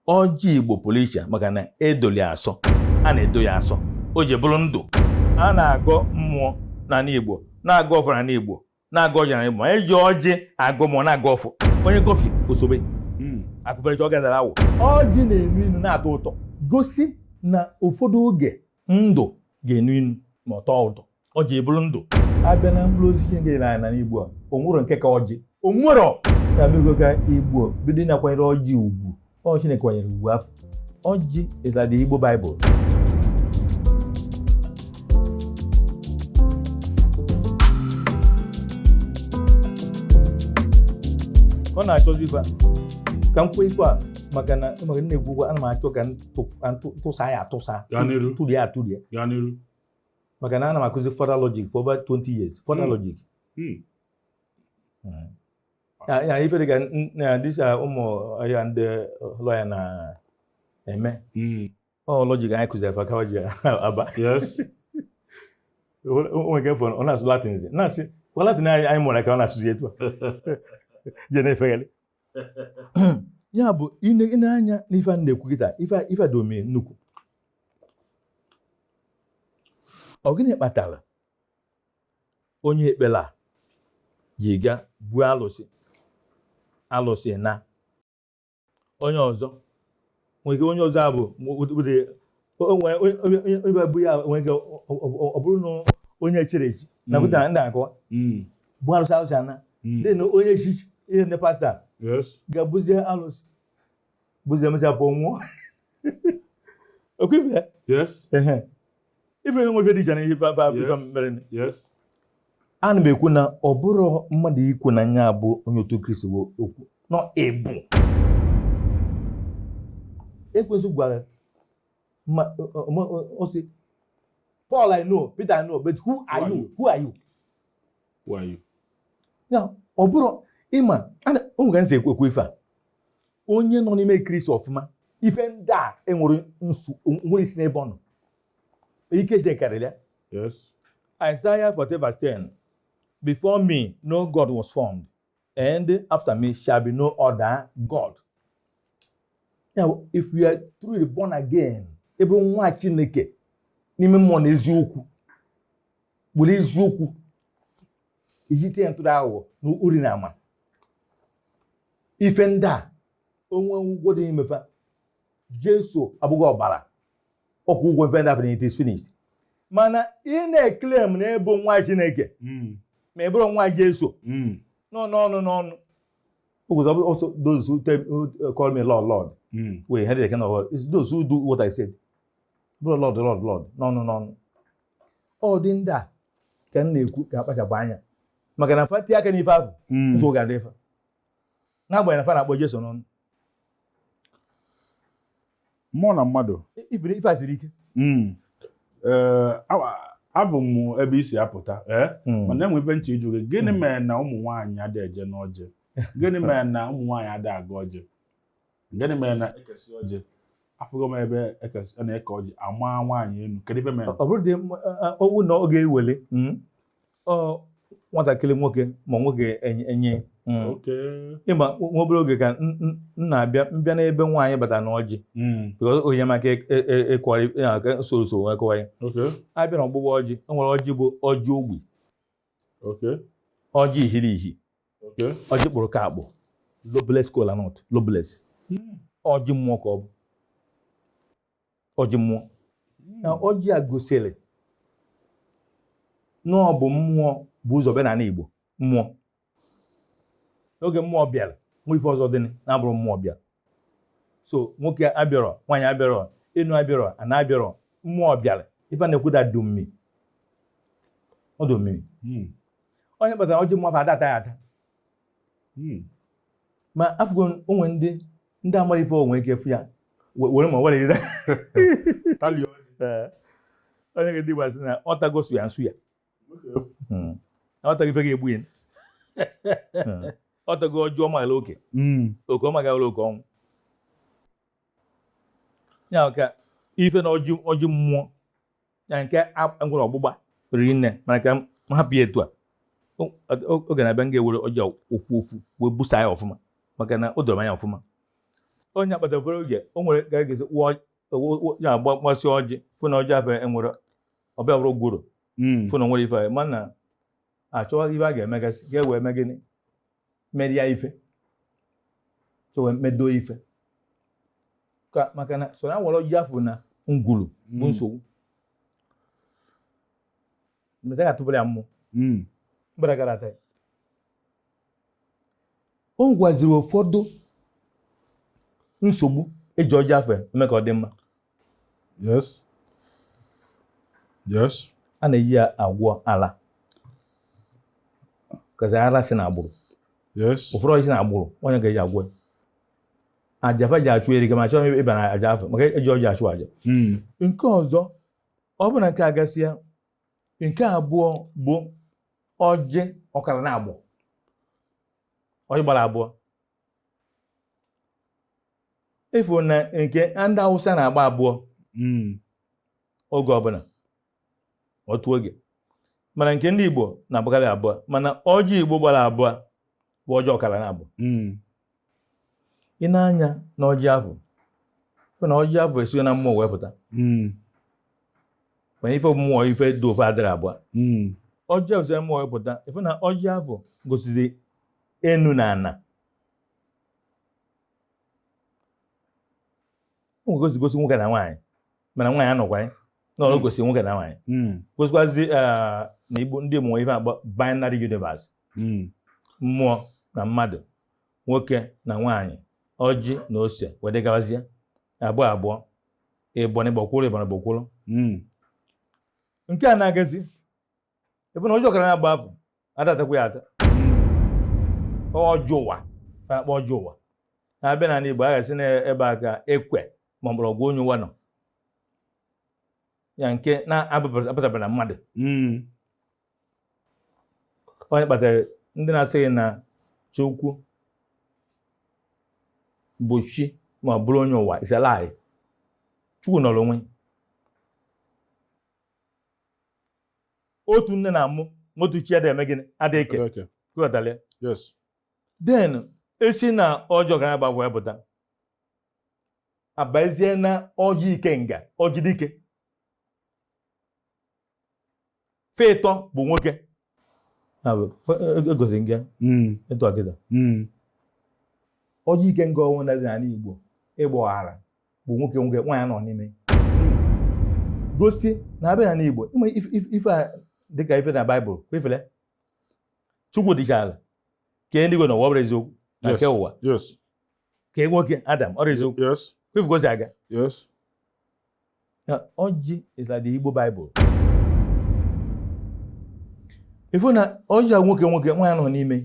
ọjị igbo pụrụ iche maka na edoli asọ a na-edo ya asọ o ji bụrụ ndụ a na-agọ mmụọ n'ala igbo na-agọ ọfọ n'ala igbo na-agọ ọjị n'ala igbo ma eji ọjị agọ mmụọ na-agọ ọfọ onye kọfị osobe hmm. akụfere ọ gadara awụ ọjị na-enu inu na-atọ ụtọ gosi na ụfọdụ oge ndụ ga-enu inu ma ọ tọọ ụtọ ọjị ebulu ndụ abịa na mkpụrụ osisi nke na n'ana igbo a onwere nke ka ọjị onwere na mego ka igbo bido na-akwanyere ọjị ugwu ọ Chineke kwanyere ugwu afụ ọjị is like the Igbo Bible ọ na-achọzi ibe ka m kwuo ife a maka na maka nna egwu ana m achọ ka m tụsa ya atụsa tụlie atụlie maka na ana m akụzi formal logic for over 20 years formal hmm. logic hmm. eh. ya ife dịka na disa ụmụ ya ndị lawyer na-eme hmm. ọ logic anyị kụziri fa ka wa ji aba onwe nke fọrọ ọ na-asụ latin na-asị kwa latin anyị mụrụ ka ọ na-asụzi etu a je na-efegharị ya bụ ị nee anya n'ife a na-ekwu kịta ife a dị omi nnukwu ọ gịnị kpatara onye ekpere a ji ga buo alụsị alụsị na onye ọzọ nwere ike onye ọzọ abụ onye bụ ya nwere ike ọ bụrụ na onye echiri echi na hmm. pụtara ndị akọ hmm. bụ arụsị arụsị ana hmm. dị na onye chi ihe ndị pasta ga-ebuzi arụsị buzie mechaa pụọ nwụọ ọkwa ife ife nwe ife dị iche na ihe ife mere ana m ekwu na ọ bụrọ mmadụ ikwu na nya bụ onye otu kristi bụ okwu na ọ bụ ekwensu gwara ọ sị Paul I know Peter I know but who are you who are you who are you ya ọ bụrụ ị ma onwe ka m si ekwu ekwu ife a onye nọ n'ime kristi ọfụma ife ndị a enwere nsu nwere isi n'ebe ọ nọ ike jide karịrị ya Yes. Isaiah 40 verse 10 Before me no God was formed, and after me shall be no other God. Now, if you are truly born again, ị bụrụ nwa Chineke n'ime mmụọ na eziokwu, were eziokwu iji tinye ntụrụ aghụghọ na uri na ama ife ndị a o nwe ụgwọ dị n'ime fa jesu abụghị ọbara ọ kwụọ ụgwọ ife ndị afụ it is finished mana ị na-eclaim na ị bụ nwa chineke hmm. ma ị bụrụ nwa jesu hmm. nọ n'ọnụ n'ọnụ because it's not those who tell, who uh, call me lord lord mm. will inherit the kingdom of God it's those who do what I said ọ bụrọ lord lord lord n'ọnụ n'ọnụ ụdị ndị a ka m na-ekwu ka a kpachapụ anya maka na fa tie aka n'ife ahụ hmm. nsogbu ga-adị ife n'agbanyeghị na fa na-akpọ Jesu n'ọnụ mmụọ na mmadụ ife a siri ike hmm. eh, afụ m ebe i si apụta eh? hmm. mana enwe ife m chọ ịjụ gị gịnị mere na ụmụ nwaanyị adịghị eje n'ọjị gịnị mere na ụmụ nwaanyị ada aga ọjị gịnị mere na ekesi ọjị afụgo m ebe ekesi a na-eke ọjị ama nwaanyị enu kedu ife mere ọ bụrụ dị m- a- a- owu na ọ ga-ewele mm, ọ nwatakịrị nwoke ma nwoke enye- enye mm. okay ị ma na obere oge ka m- m- m na-abịa mbịa n'ebe nwaanyị bata na ọjị Mm, because o nyere m aka e- e- e- ịkọwarị ya ka m soro usoro wee kọwaa ya okay a bịa na ọgbụgba ọjị e nwere ọjị bụ ọjị ogbi okay ọjị ihiri ihi ọjị kpụrụ ka akpụ lobeless kola nut lobeless ọjị mmụọ ka ọ bụ ọjị mmụọ na ọjị a gosiri na ọ bụ mmụọ bu ụzọ bịa n'anị Igbo mmụọ n'oge mmụọ bịara o nwe ife ọzọ dị na-abụrọ mmụọ bịa so nwoke abịarọ nwaanyị abịarọ enu abịarọ ana abịarọ mmụọ bịara ife na-ekwu dị omimi ọ dị omimi hmm. ọ ya kpatara ọjị mmụọ ada ata ya ata hmm. ma afụgo o nwe ndị ndị amarọ ife e nwe ike fụ ya were mma were ire onye ga-edị gbazi na ọ tagosu ya nsu ya hmm. ọ tago ife ga-egbu ya hmm. ọ tago ọjị ọ marọ okay hmm. okay ọ magara oke ọnwụ ya ka ife na ọjị mmụọ ya ka e nwere ọgbụgba riri nne mana ka m hapụ ya etu a oge na-abịa m ga-ewere ọjị a ofu ofu wee busaa ya ọfụma maka na o doro anya ọfụma ọ ya kpatara oge o nwere ga-egezi ya gbasịa ọjị fụ na ọjị afụ enwerọ ọbịa bụrụ gworo hmm. fụ na nwere ife mana achọghị ife a ga-emegasị ga-ewe eme gịnị merie ife chọwe medo ife maka na so na nwere ọjị afụ na ngwulu bụ hmm. nsogbu mgbe a ga-atụbara ya mmụọ hmm. mgbada gara ata o gwaziri ụfọdụ nsogbu eji ọjị afụ eme ka ọ dị mma Yes. Yes. A na-eji ya agwọ ala. because ala si na agbụrụ. Yes. Ụfọdụ ọrịa si na agbụrụ, onye ga-eji agwọ. Aja fa ji achụ erika ma chọọ ịba na aja afọ maka eji ọjị achụ aja. Hmm. Nke ọzọ, ọ bụrụ na nke a gasịa, nke abụọ bụ ọjị ọkara naabọ. Ọjị gbara abụọ. ị fụ na nke ndị awụsa na-agba abụọ hmm. oge ọbụla otu oge mana nke ndị igbo na-agbakarị abụọ mana ọjị igbo gbara abụọ bụ ọjị ọkara na abụọ hmm. ị nee anya na ọjị afụ ị fụ na ọjị afụ esi na mmụọ wee pụta hmm. mana ife mmụọ ife dị ofe adịrị abụọ ọjị afụ si mmụọ wee pụta ị fụ na ọjị afụ gosizi enu na ana o gosi gosi nwoke na nwaanyị mana nwaanyị anọkwa ya na ọ gosi nwoke na nwaanyị gosikwazi eh, na igbo ndị mụọ ife akpọ binary universe mmụọ na mmadụ nwoke na nwaanyị ọjị na ose wee dịgawazie abụọ abụọ ịbọn ịgbakwụrụ ịbọn ịgbakwụrụ nke a na-agazi ebe na ọjị ọkara naabọ afụ a da-atakwa ya ata ọjị ụwa akpa ọjị ụwa na-abịa n'ala Igbo a ga-asị na ebe a ka ekwe ma mgbọrọgwụ onye ụwa nọ ya nke na-apụtabara na mmadụ hmm. ọ ya kpatara ndị na-asị gị na Chukwu bụ chi ma ọ bụrụ onye ụwa isala anyị Chukwu nọrọ onwe otu nne na-amụ nwa otu chi adịghị eme gịnị adịghị eke Eke. ị ghọtara ya Yes. then e si na ọjị ọkara naabọ afụ apụta abazie na ọjị ikenga ọjị dike ife ịtọ bụ nwoke Ya bụ, e- e- egosiri gị ya, Mm. ịtụ akịta Mm. ọjị ikenga ọ bụ na-adị n'ala igbo ịgba ọghara bụ nwoke nwoke nwaanyị nọ n'ime ya gosi na abịa na n'Igbo ịma ife a dịka ife na Baịbụl kwefere Chukwu dịcha ala kee ndị Igbo na ụwa ọ bụrọ eziokwu na nke ụwa kee nwoke Adam ọ bụrọ eziokwu kwefu gosi aga na ọjị is like the Igbo Bible ị fụ na ọjị a nwoke nwoke nwaanyị nọ n'ime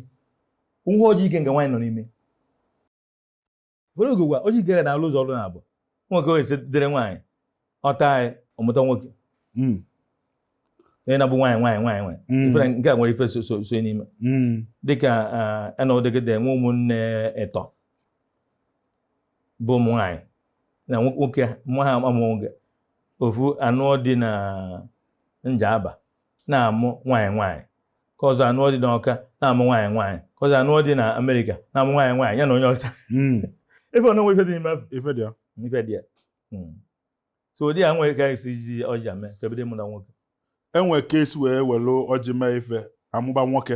nwa ọjị ikenga nwaanyị nọ n'ime Were ogogwa o jikere na alụ ụzọ ọrụ na-abụ nwoke wee dịrị nwaanyị ọ taa ya ọ mụta nwoke hmm. onye na-abụ nwaanyị nwaanyị nwaanyị nwaanyị hmm. ifere nke a nwere ife so so n'ime hmm. dịka enọdegede nwe ụmụnne ịtọ bụ ụmụ nwaanyị na nwoke mụ ha amụghị ofu anụọ di na Njaba na-amụ nwaanyị nwaanyị nke ọzọ anụọ di n'Ọka na-amụ nwaanyị nwaanyị nke ọzọ anụọ di na Amerịka na-amụ nwaanyị nwaanyị ya na onye ọcha hmm. ife ọnụnwe ife dị n'ime ife dị ya ife dị ya hmm. so ụdị ya nwere ka e si ji ọjị ame kebede mụ na nwoke e nwe ka e si wee were ọjị mee ife a mụba nwoke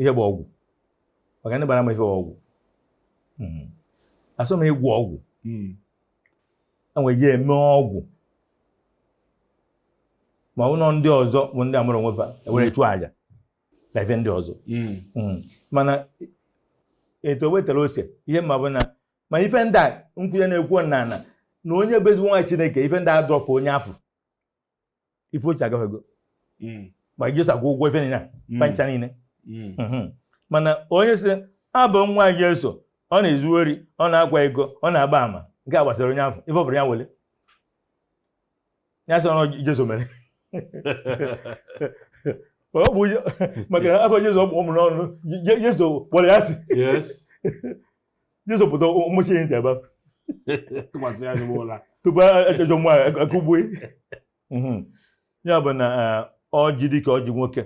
ihe bụ ọgwụ maka ndị bara m ife bụ ọgwụ hmm. asọ m ịgwọ ọgwụ hmm. e nwe ji eme ọgwụ ma ọ bụrụ ndị ọzọ bụ ndị a mụrụ onwe fa e were chụọ aja na ife ndị ọzọ hmm. mana etu wetara ose ihe m ma bụ na ma ife ndị a nkwụnye na-ekwu na na onye bụ ezigbo nwa Chineke ife ndị a adịrọ afụ onye afụ ife ochie agafego hmm. ma Jesu akwụgo ụgwọ ife niile hmm. fa ncha niile hmm. mana onye sị ọ bụ nwa Jesu ọ na-ezu ori ọ na-akwa iko ọ na-agba ama nke a gbasara onye afụ ife ọ fụrụ ya wele ya sị ọrụ Jesu mere ọ bụ maka na afa Jesu ọ bụ ụmụ n'ọnụ Jesu kpọrọ ya asị Jesu pụta ọ machie ya ntị abafe tụkwasị ya ezigbo ụla tupu ejọ nwa akụgbue ya bụ na ọjị eh, dịka ọjị nwoke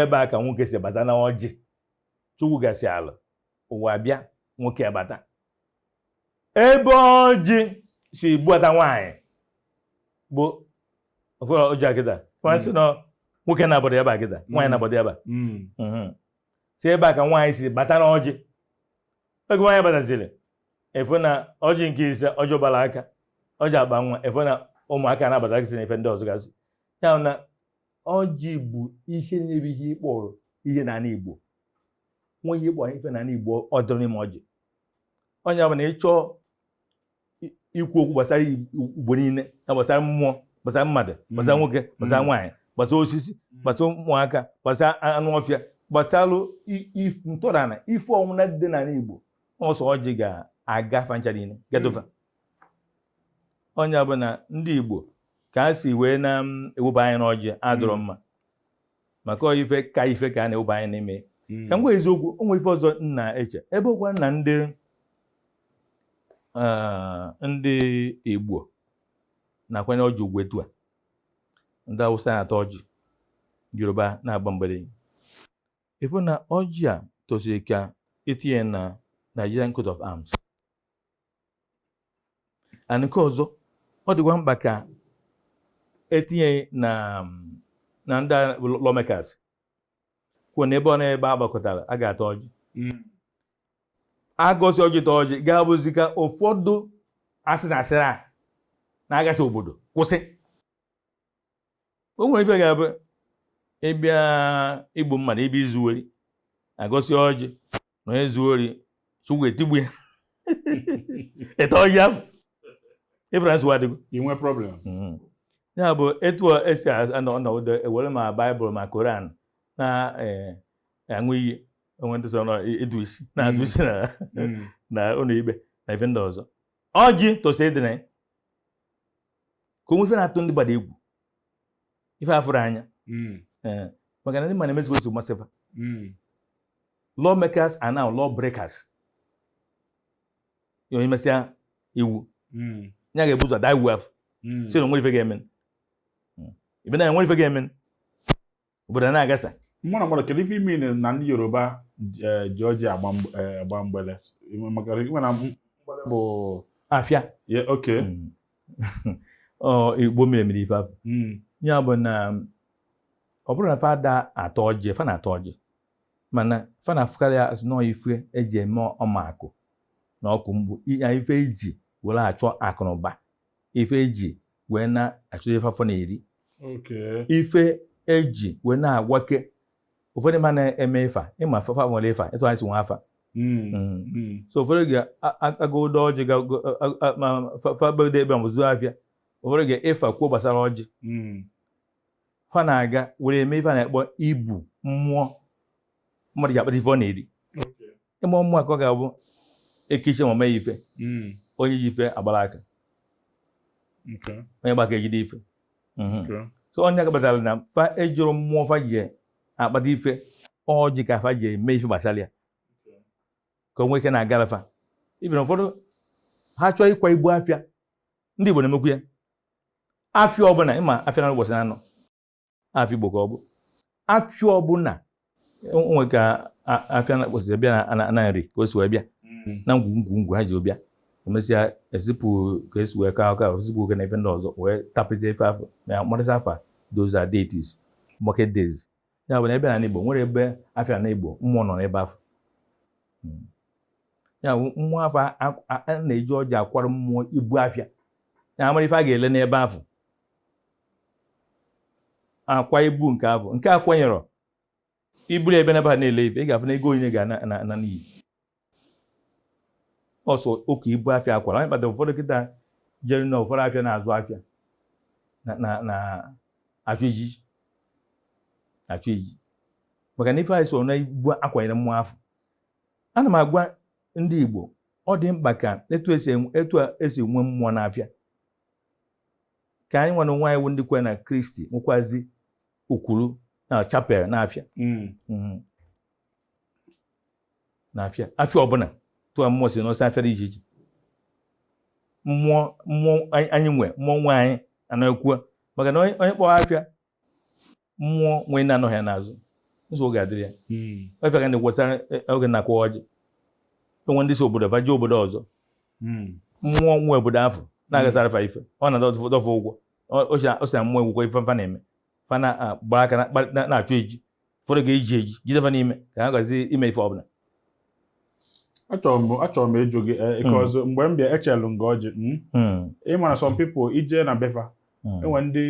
ebe a ka nwoke si bata na ọjị chukwu gasị ala ụwa bịa nwoke bata ebe ọjị si buata nwaanyị bụ ọjị aka ịtọ nwaanyị si na nwoke na-abọdọ ya gbaa aka ịtọ nwaanyị na-abọdọ ya ba si ebe a ka nwaanyị si bata na ọjị oge nwaanyị bataziri ị fụ na ọjị nke ise ọjị ụbara aka ọjị akpa nwa ị fụ na ụmụaka na-abatasị na ife ndị ọzọ gasị ya na ọjị bụ ihe nyere ihe a kpọrọ ihe n'ala Igbo nwa ihe a kpọrọ ife n'ala Igbo ọ dịrị n'ime ọjị ọ ya bụ na ị chọọ ikwu okwu gbasara Igbo niile na gbasara mmụọ gbasara mmadụ gbasara mm. nwoke gbasara mm. nwaanyị gbasara osisi mm. gbasara ụmụaka gbasara anụ ọfịa gbasara ntọrana ife ọwụna dị n'ala Igbo ọ sọ ọjị ga-aga fa ncha niile gado fa ọ ya bụ na ndị Igbo ka e si wee na-ewepụ anyị n'ọjị adịrọ mma maka ife ka ife ka a na-eweba anyị n'ime hmm. ka m gwa eziokwu o nwe ife ọzọ m na-eche ebe ọkwa na ndị ah, ndị Igbo na-akwanye ọjị ugwu etu a ndị Awụsa na-ata ọjị Yoruba na-agba mgbere ị fụ na ọjị a tosiri ka e tinye na Nigerian coat of arms and nke ọzọ ọ dịkwa mkpa ka e tinye na na ndị lawmakers kwuo na ebe ọbụna ebe a gbakọtara a ga-ata ọjị hmm. a gọzie ọjị taa ọjị ga-abụzi ka ụfọdụ asị na asịrị a na-agasị obodo kwụsị o nwere ife ga-abụ ị bịa igbu mmadụ ị bịa izu ori a gọsịa ọjị na onye zuo ori Chukwu etigbuo ya ị taa ọjị afụ ị fụrụ na nsogbu adịgo i nwee problem Mhm. ya bụ etu a e si anọ ọnọdụ e were ma baịbụl ma koran na eh, aṅụ iyi o nwe ndị sị na ọ ịdụ isi na-adụ isi na Mm. na ụlọ ikpe na ife ndị ọzọ ọjị tosi ịdị na ya. ka o nwee ife na-atụ ndị gbada egwu ife a fụrụ anya hmm. eh, maka na ị ma na emezigo nsogbu ma sị fa hmm. law makers are now law breakers onye mesịa iwu hmm. ya ga-ebu ụzọ daa iwu afụ sị na o nwerọ ife ga-eme ibe na e nwerọ ife ga-eme obodo na-agasa mụrụ mmadụ kedu ife ime na ndị yoruba eh, ji ọjị agba eh, mgbele maka ị ma na mgbele bụ afịa oke hmm. oh, igbo mere mere ife afụ hmm. ya bụ na ọ bụrọ na fa ada ata ọjị fa na-ata ọjị mana fa na-afụkarị ya sị na ọ ife e ji eme ọma akụ na ọkụ mgbu ife e ji were achọ akụ na ụba ife e ji wee na-achọzi ife afọ na-eri ife e ji wee na-agwake ụfọdụ ma na-eme Ifa ị ma fa fa nwere Ifa etu anyị si nwee afa hmm. Hmm. Hmm. so ụfọdụ ga-agọdụ ọjị fa ebido ebe ma zụọ afịa ụfọdụ gaa Ifa kwuo gbasara ọjị fa na-aga were eme ife a na-akpọ ibu mmụọ mmadụ ji akpata ife ọ na-eri ịma ọmụma ka ọ ga-abụ ekechi ma mee ife hmm. onye ji ife agbara aka onye gba aka ejide ife mhm. so onye akabatara na fa ejiri mmụọ fa ji akpata ife ọ ji ka fa ji eme ife gbasara ya ka o nwee ike na-agara fa ife na ụfọdụ ha chọọ ịkwa ibu afịa ndị Igbo na-emekwu ya afịa ọbụla ị ma afịa naanọ ụbọchị naanọ afịa igbo ka ọ bụ afịa ọbụna o nwe ka afịa na-akpọsịsị bịa na nri ka o si wee bịa hmm. na ngwu ngwu ngwu ha ji bịa emesịa ezipụ ka esi wee kaa aka o zipụ oke na ife ndị ọzọ wee tapịta ife afụ na mkparịta afa those are deities market days ya bụ na ebe na igbo nwere ebe afịa na igbo mmụọ nọ n'ebe afụ hmm. ya bụ mmụọ afụ a na-eji ọjị akwara mmụọ ibu afịa ya amara ife a ga-ele n'ebe afụ akwa ibu nke afụ nke a kwanyerọ i buru ebe naba na-ele ife ị ga-afụ na ego onye ga-ana n'iyi ọsọ oke ibu afịa akwara anyị kpatara ụfọdụ kịta jere na ụfọdụ afịa na-azụ afịa na achụ ejiji achụ ejiji maka na ife anyị so na ibu akwanyere mmụọ afụ ana m agwa ndị Igbo ọ dị mkpa ka etu esi enwe mmụọ n'afịa ka anyị nwa onwe anyị bụ ndị kwere na kristi nwekwazi okwuru na chapel na afịa mm. mm-hmm. na afịa afịa ọbụna tụọ mmụọ si n'ọsọ afịa dị iche iche mmụọ mmụọ anyị nwe mmụọ nwe anyị ana m ekwu maka na onye kpọọ afịa mmụọ nwe ya na-anọghị ya n'azụ nsogbu ga-adịrị ya efe hmm. ka na-ekwesara e, e, oge na-akwa ọjị enwe ndị si obodo fa jee obodo ọzọ hmm. mmụọ nwe obodo afụ na-agasara fa ife ọ na-adọfụ ụgwọ o si na mmụọ egwukwa ife fa na-eme fa na-agba aka na-achụ eji ụfọdụ ga-eji eji jide fa n'ime ka ha gazi ime ife ọbụna achọrọ m ịjụ gị eh, hmm. ọzọ mgbe m bịa echelu m gị ọjị hmm? hmm. ị mara some people i jee na be fa enwe ndị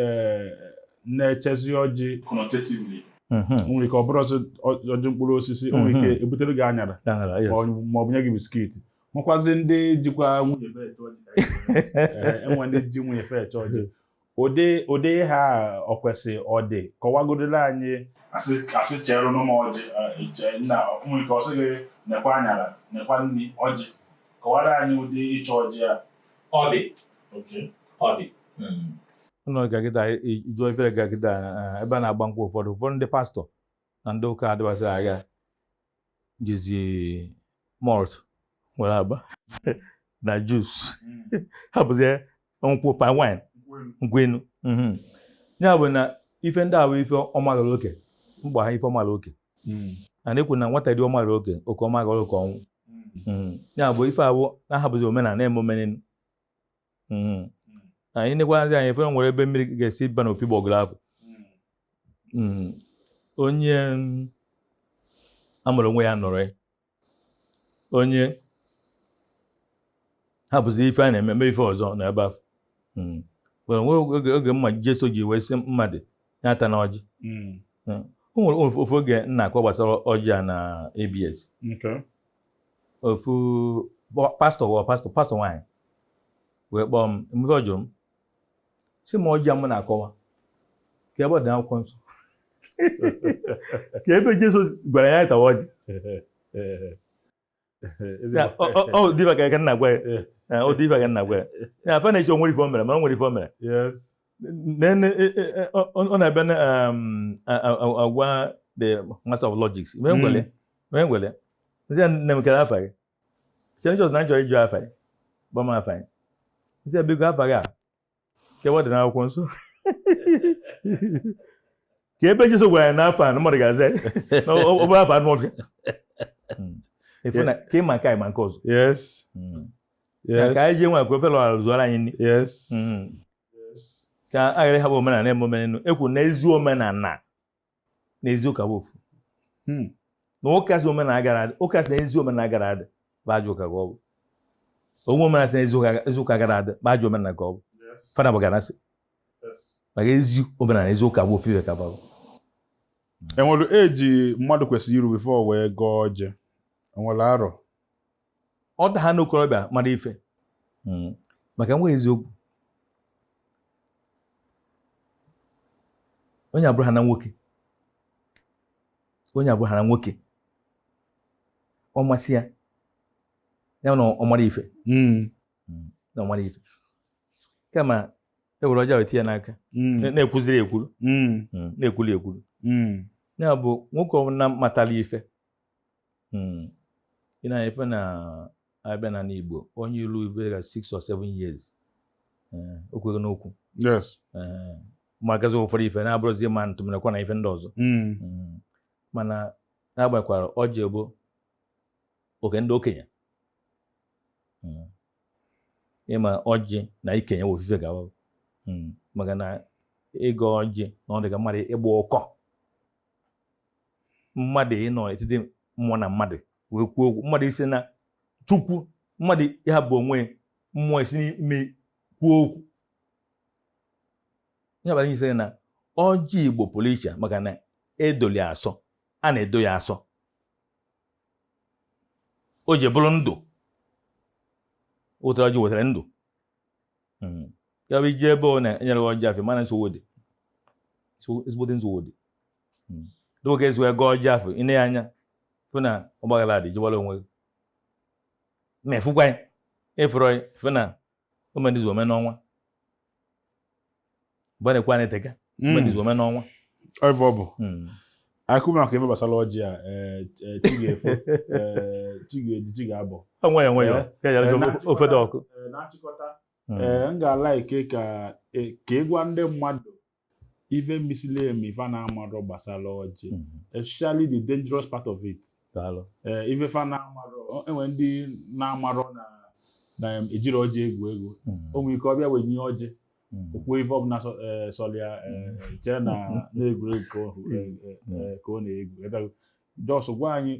eh, na-echezi ọjị nwere ike ọ bụrụ ọjị mkpụrụ osisi nwere ike e butere gị anyara ma ọ bụ nye gị biskiti nwekwazi ndị jikwa nwunye enwe ndị ji nwunye fa eche ọjị Ụdị ụdị ihe a o kwesi ọ dị? Kọwagodiri anyị. Asị asị cheerenụ m ọjị chee nna nwere ike ọ sị gị nekwa anyara nekwa nri ọjị kọwara anyị ụdị iche ọjị a ọ dị oke ọ dị ụlọ gaa kịta ijụọ ifere gaa kịta ebe a na-agba nkwụ ụfọdụ ụfọdụ ndị pastọ na ndị ụka adịwasịra ha jizi malt were agba na juice hmm. hapụzie nkwụ palm wine nkwụ enu hmm. ya bụ na ife ndị ahụ ife ọmaghara oke mkpa ha ife ọmaghara oke hmm. na na-ekwu na nwata dị ọmaghara oke oke ọmaghara oke ọnwụ ya bụ ife ahụ na-ahapụzi omenana na-eme omenenu Mm. anyị nekwazi anya ife nwere ebe mmiri ga-esi ba n'opi ụgbọgụrụ afụ Mm. onye mm, amụrụ onwe ya nọrọ ya onye hapụzi ife a na-eme mee ife ọzọ na ebe afụ Mm. were nwee oge oge mma Jeso ji wee sị mmadụ ya atana ọjị Mm. o nwere ofu ofu oge m na-akọ gbasara ọjị a na ABS Okay. ofu pastọ wụọ pastọ pastọ nwaanyị wee kpọọ m mgbe ọ jụrụ m sị m ọjị a m na-akọwa kee ebe ọ dị n'akwụkwọ nsọ kee ebe Jizọs gwara ya tawa ọjị ọ dị ife ka nna gwa ya ọ dị ife ka nna gwa ya ya afa na-eche o nwere ife o mere ma o nwere ife o mere then eh, eh, eh, ọ na-ebe um, agwa the master of logic wee hmm. ngwele wee ngwele m sị nne m kere afa gị chere njọs na njọ ịjụ afa gị gwa m afa gị m sị biko afa gị a kee ebe ọ dị n'akwụkwọ nsọ kee ebe Jesu gwara ya na afa a na mmadụ ga-aza na ọ bụrọ afa anụ ọfịa hmm. efu na ka ịma nke anyị ma nke ọzọ hmm. Yes. ka anyị jee nwa ka ofe lọra zụọrọ anyị nri Yes. Mhm. Yes. ka a ghara ịhapụ omenala na-eme omenelu ekwu na ezi omenala na ezi ụka bụ ofu Hmm. na ụka sị omenala ghara adị ụka sị na ezi omenala ghara adị bụ ajọ ụka ka ọ bụ o nwee omenala sị na ezi ụka- ezi ụka ghara adị bụ ajọ omenala ka ọ bụ Yes. fada bụ ganasị Yes. maka ezi omenala na ezi ụka bụ ofu ife ka ọ bụ e nwere age mmadụ kwesịrị iru before o wee gọọ ọjị e nwere arọ ọ da ha n'okorobịa mara ife hmm. maka e kwuwe eziokwu onye abụrụ ha na nwoke onye abụrụ ha na nwoke ọ masị ya ya na ọ mara ife hmm. Hmm. na ọ mara ife kama e were ọjị a tie ya n'aka na-ekwuziri ekwuru na-ekwuli ekwuru ya bụ nwoke ọbụla matara ife hmm. ị ma ife na a bịa na n'Igbo onye ilu ibere six or seven years eh, o kwere n'okwu eh, ma gazi ụfọdụ ife na-abụrụzi ma ntụmịnakwa na ife ndị ọzọ hmm. Hmm. mana na-agbakwara ọjị bụ oke ndị okenye hmm. ị ma ọjị na ikenye ofu ife gawa maka na ịgọ ọjị na ọ dị ka mmadụ ịgba ụkọ mmadụ ịnọ etiti mmụọ na mmadụ wee kwuo okwu mmadụ isi na chukwu mmadụ ya bụ onwe mmụọ isi n'ime ya kwuo okwu ya bụ isi na ọjị igbo pụrụ iche maka na edolu ya asọ a na-edo ya asọ ọjị bụrụ ndụ wetara ọjị wetara ndụ hmm. ya bụ i je ebe onye enyere ọjị afụ ị mana nsogbu dị ezigbote nsogbu dị hmm. dịka ka ezu ego ọjị afụ i nee ya anya fụ na ọgbaghara dị jiwara onwe gị ma ị fụkwa ya ị fụrọ ya fụ na o mee n'izu o mee n'ọnwa mgbe na-ekwe anyị tega hmm. o mee n'izu o mee n'ọnwa ebe ọ bụ hmm. okwu maka ife gbasara ọjị a eh, eh, chi ga-efo eh, chi ga-eji chi ga-abọ nwayọ nwayọ ka eji ara ofe dị ọkụ na nchịkọta hmm. m ga-a like ka e, ka ị gwa ndị mmadụ ife misili emi ife na-amarọ gbasara ọjị especially the dangerous part of it ife fa na-amarọ enwe ndị na-amarọ na na ejirọ ọjị egwu egwu o nwee ike ọ bịa wenye ọjị hmm. o kwuo ife ọbụla e, sọrọ ya e, hmm. e, chee na na egwuregwu ka ọ hmm. na-egwu just gwa anyị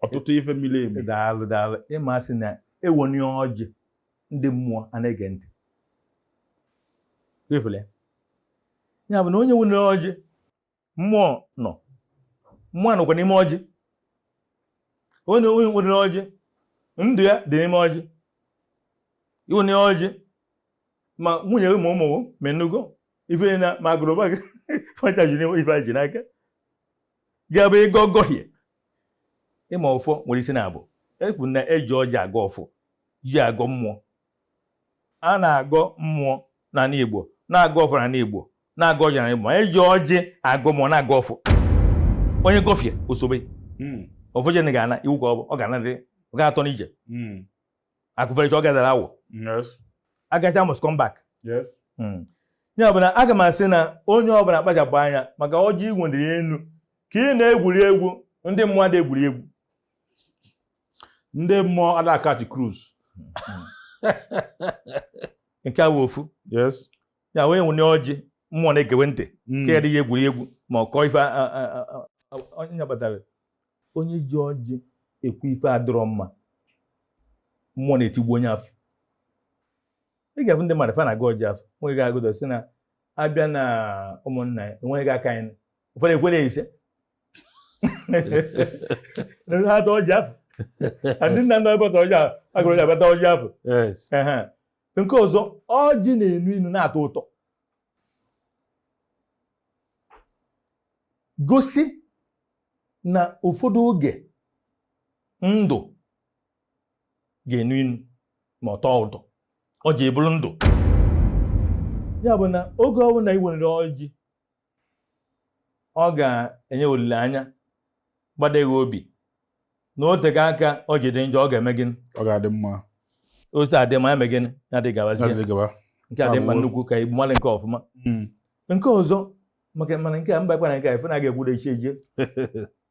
ọtụtụ ife miri emi daalụ daalụ ịmasị na ewenye ọjị ndị mmụọ a na-ege ntị ya bụ na onye wenye ọjị mmụọ nọ mmụọ nọkwa n'ime ọjị onye onye wenye ọjị ndụ ya dị n'ime ọjị i wenye ọjị ma nwunye gị ma ụmụ gị ma ị nụgo ife na ma agbụrụ be gị fa ncha dị n'ime ife i ji n'aka gị ya bụ ị gọgọhie ị ma ọfọ nwere isi naabọ ekwu na eji ọjị agọ ọfọ eji agọ mmụọ a na-agọ mmụọ n'ala Igbo na-agọ ọfọ n'ala Igbo na-agọ ọjị n'ala Igbo ma eji ọjị agọ mmụọ na-agọ ọfọ onye gọfie ya o sobe hmm. ofojene ga-ana iwu ka ọ ga-anadị ọ ga-atọ n'ije hmm. akụ fericha ọ ga-adara awọ agacha must come back hmm. ya bụ na aga m asị na onye ọbụla kpachapụ anya maka ọjị i wenite elu ka ị na-egwuri egwu ndị mmụọ ada egwuri egwu ndị mmụọ ada catch cruise nke a wee ofu ya wee wenye ọjị mmụọ na-egewe ntị hmm. ka ya dịghị egwuregwu ma ọ kọọ ife onye nya kpatara onye ji ọjị ekwu ife adịrọ mma mmụọ na-etigbu onye afụ ị ga-afụ ndị mmadụ fa na-agọ ọjị afụ nweghị ga-agụdọ si na abịa na ụmụnna ya enweghị aka anyị ụfọdụ ekwere isee ha ta ọjị afụ ndị nna nna abata ọjị ahụ a gọrọ ya abata ọjị afụ Yes. Ehe. nke ọzọ ọjị na-enu inu na-atọ ụtọ gosi na ụfọdụ oge ndụ ga-enu inu ma ọ tọọ ụtọ ọjị abụrụ ndụ ya bụ na oge ọbụla ị nwere ọjị ọ ga-enye olileanya gbade gị obi na o tego aka ọ ji dị njọ ọ ga-eme gịnị ọ ga-adị mma ọ dị mma ya mee gịnị ya dị gabazie adịghị gaba nke a dị mma Abụọ. nnukwu ka igbu mmadụ nke ọfụma Mm. nke ọzọ maka mana nke a mba kwana nke a ife na aga ekwudo echi eje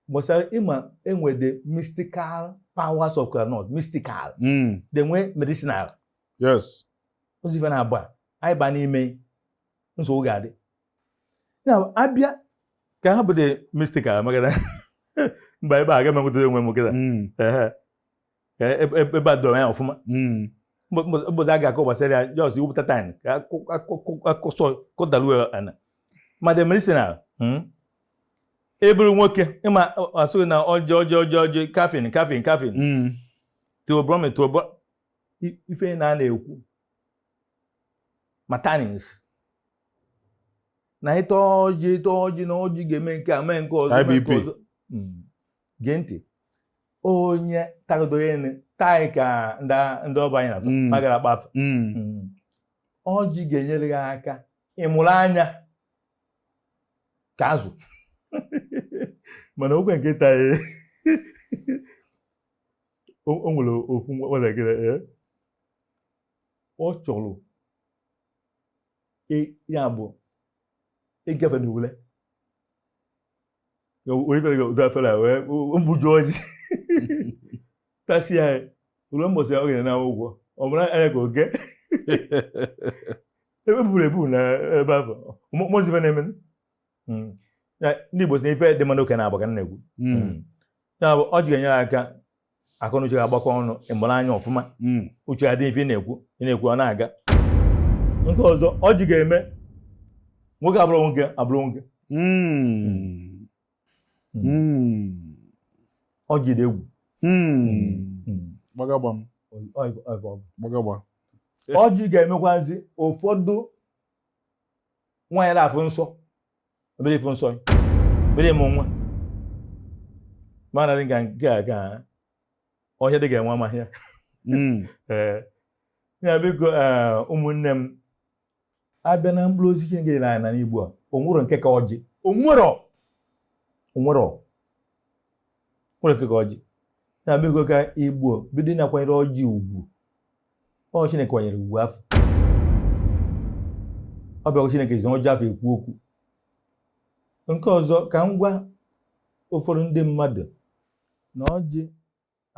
gbasara ị ma e nwe the mystical powers of kola nut mystical Mm. the nwe medicinal yes ozi ife na-agba anyị ba n'ime nsogbu ga-adị ya abịa ka ha bụdị mystic a makana mba ebe a ka m nwetara onwe m kịta hmm. e, e, e, ebe a doro anya ọfụma hmm. ụbọchị a ga-akọ gbasara ya just iwepụta time ka a kọsọ kọdaruo ana ma the medicinal hmm? eburu nwoke ị ma a sị gị na ọjị ọjị ọjị ọjị caffeine caffeine caffeine theobromine theobro ife na a na-ekwu ma tannins na ịta ọjị ịta ọjị na ọjị ga-eme nke a mee nke ọzọ mee nke ọzọ hmm. gee ntị onye tagodoro ene taị ka ndị ọba anyị na-atụ hmm. magara akpafe hmm. ọjị ga-enyere gị aka ịmụrụ anya ka azụ mana okwe nke taị o nwere ofu nwa gị ọ chọrọ ya bụ ịgafe na ule o buju ọjị tasịa o lue mbọsị ya ọ ga-enye na ụgwọ ọ mụrụ anya ka oge ebe buru ebu na ebe afụ mụzibe na-eme hmm. ndị Igbo sị na ife dị mma n'oke na-abụ ka na-ekwu hmm. Hmm. ya bụ ọjị ga-enyere aka akọ na uche ga-agbakọ ọnụ ị mụrụ anya ọfụma uche adị ife ị na-ekwu ị na-ekwu ọ na-aga nke ọzọ ọjị ga-eme nwoke abụrụ nwoke abụrụ nwoke ọjị dị egwu gbagagba ọjị ga-emekwazi ụfọdụ nwaanyị na-afụ nsọ o bido ịfụ nsọ o bido ịmụ nwa mana dị ka nke a ka ọhịa dị ga-enwe amaghị ya hmm. eh, ya biko eh, ụmụnne m abịa na mkpụrụ osisi nke dị n'anị Igbo a onwero nke ka ọjị onwero onwero nwero nke ka ọjị na emego ka Igbo bido na-akwanyere ọjị ugwu ọ chineke kwanyere ugwu afụ ọ bụkwa chineke ji ọjị afụ ekwu okwu nke ọzọ ka m gwa ụfọdụ ndị mmadụ na ọjị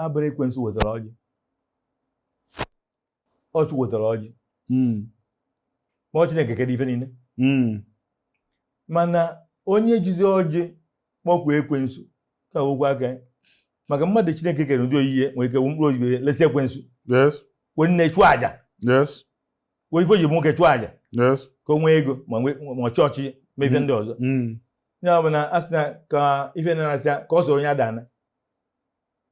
abụrọ ekwensu wetara ọjị ọ Chi wetara ọjị hmm. ma ọ Chineke kelu ife niile hmm. mana onye jizi ọjị kpọkuo ekwensu ka okwu aka maka mmadụ Chineke kere n'ụdị oyiyi ya nwere ike mkpụrụ obi ya lesi ekwensu were nne chụọ aja were ife ji nwoke chụọ aja ka o nwee ego ma ọchịchị ma ife ndị ọzọ hmm. ya bụ na a sị na ka ife na-arasị ka ọ soro onye adana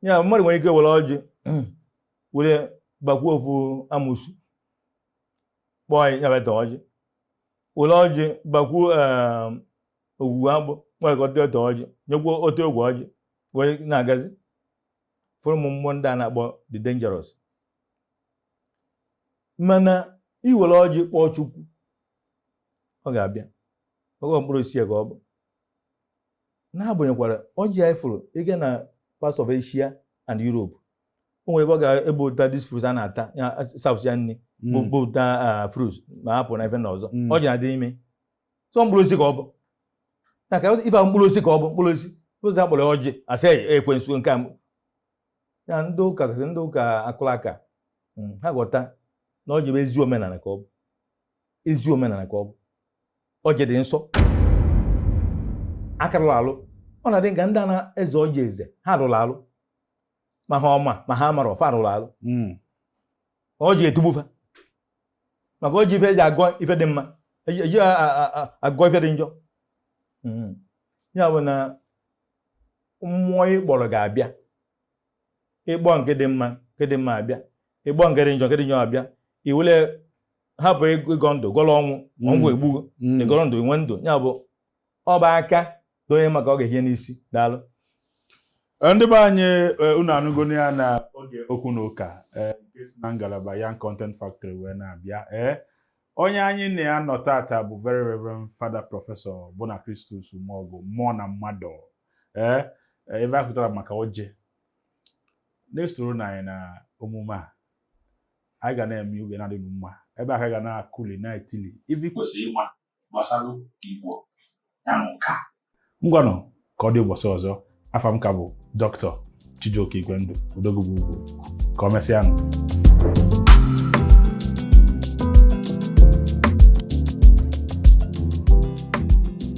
ya mmadụ nwere ike were ọjị were bakwuo ofu amusu kpọọ ya nya bịa taa ọjị were ọjị bakwuo ehm, ogwugwu agwụ nwekọta ọ taa ọjị nyekwuo otu ogwe ọjị wee na-agazi fụrụ ụmụ mmụọ ndị a na-akpọ the dangerous mana i were ọjị kpọọ chukwu ọ ga-abịa ọjị mkpụrụ osisi ka ọ bụ n'agbanyekwara ọjị a ị fụrụ ị gaa na parts of Asia and Europe o nwere ebe ọ ga-ebe ụta this fruit a na-ata south ya nri bụ ụta fruit ma hapụ na ife na ọzọ ọjị na-adị ime so mkpụrụ osisi ka ọ bụ na ka ife mkpụrụ osisi ka ọ bụ mkpụrụ osisi ụzọ akpọrọ ọjị asị ekwensu nke a ya ndị ụka kasị ndị ụka akụrụ aka ha ghọta na ọjị bụ ezi omenala ka ọ bụ ezi omenala ka ọ bụ ọjị dị nsọ aka rụrụ alụ ọ na-adị ka ndị a na-eze ọjị eze ha rụrụ alụ ma ha ma ma ha amarọ fa rụrụ alụ hmm. ọjị etigbu fa maka ọjị ife eji agọ ife dị mma eji agọ ife dị njọ hmm. ya bụ na mmụọ ị kpọrọ ga-abịa ị kpọọ nke dị mma nke dị mma abịa ị kpọọ nke dị njọ nke dị njọ abịa i wele hapụ ịgọ ndụ gọrọ ọnwụ ma ọnwụ egbuo gị ị gọrọ ndụ i nwee ndụ ya bụ ọba aka donye maka ọ ga-ehie n'isi daalụ eh, ndị be anyị eh, unu anụgonu ya na oge okwu na ụka eh, nke si na ngalaba ya Content Factory wee na-abịa ee onye anyị na ya nọ tata bụ very reverend father prọfesọ Bona Christus Umeogu mmụọ na mmadụ ee eh, ebe a kwutara maka ọjị na-esoronụ anyị na omume a anyị ga na-eme oge na-adị mma ebe a ka ga na-akụli na-etili ife i kwesịrị ịma gbasara igbo ya na ụka ngwanụ ka ọ dị ụbọsị ọzọ afa m ka bụ dọkịta Chijioke Igwendu odogwu bu ugwu ka ọ mesịa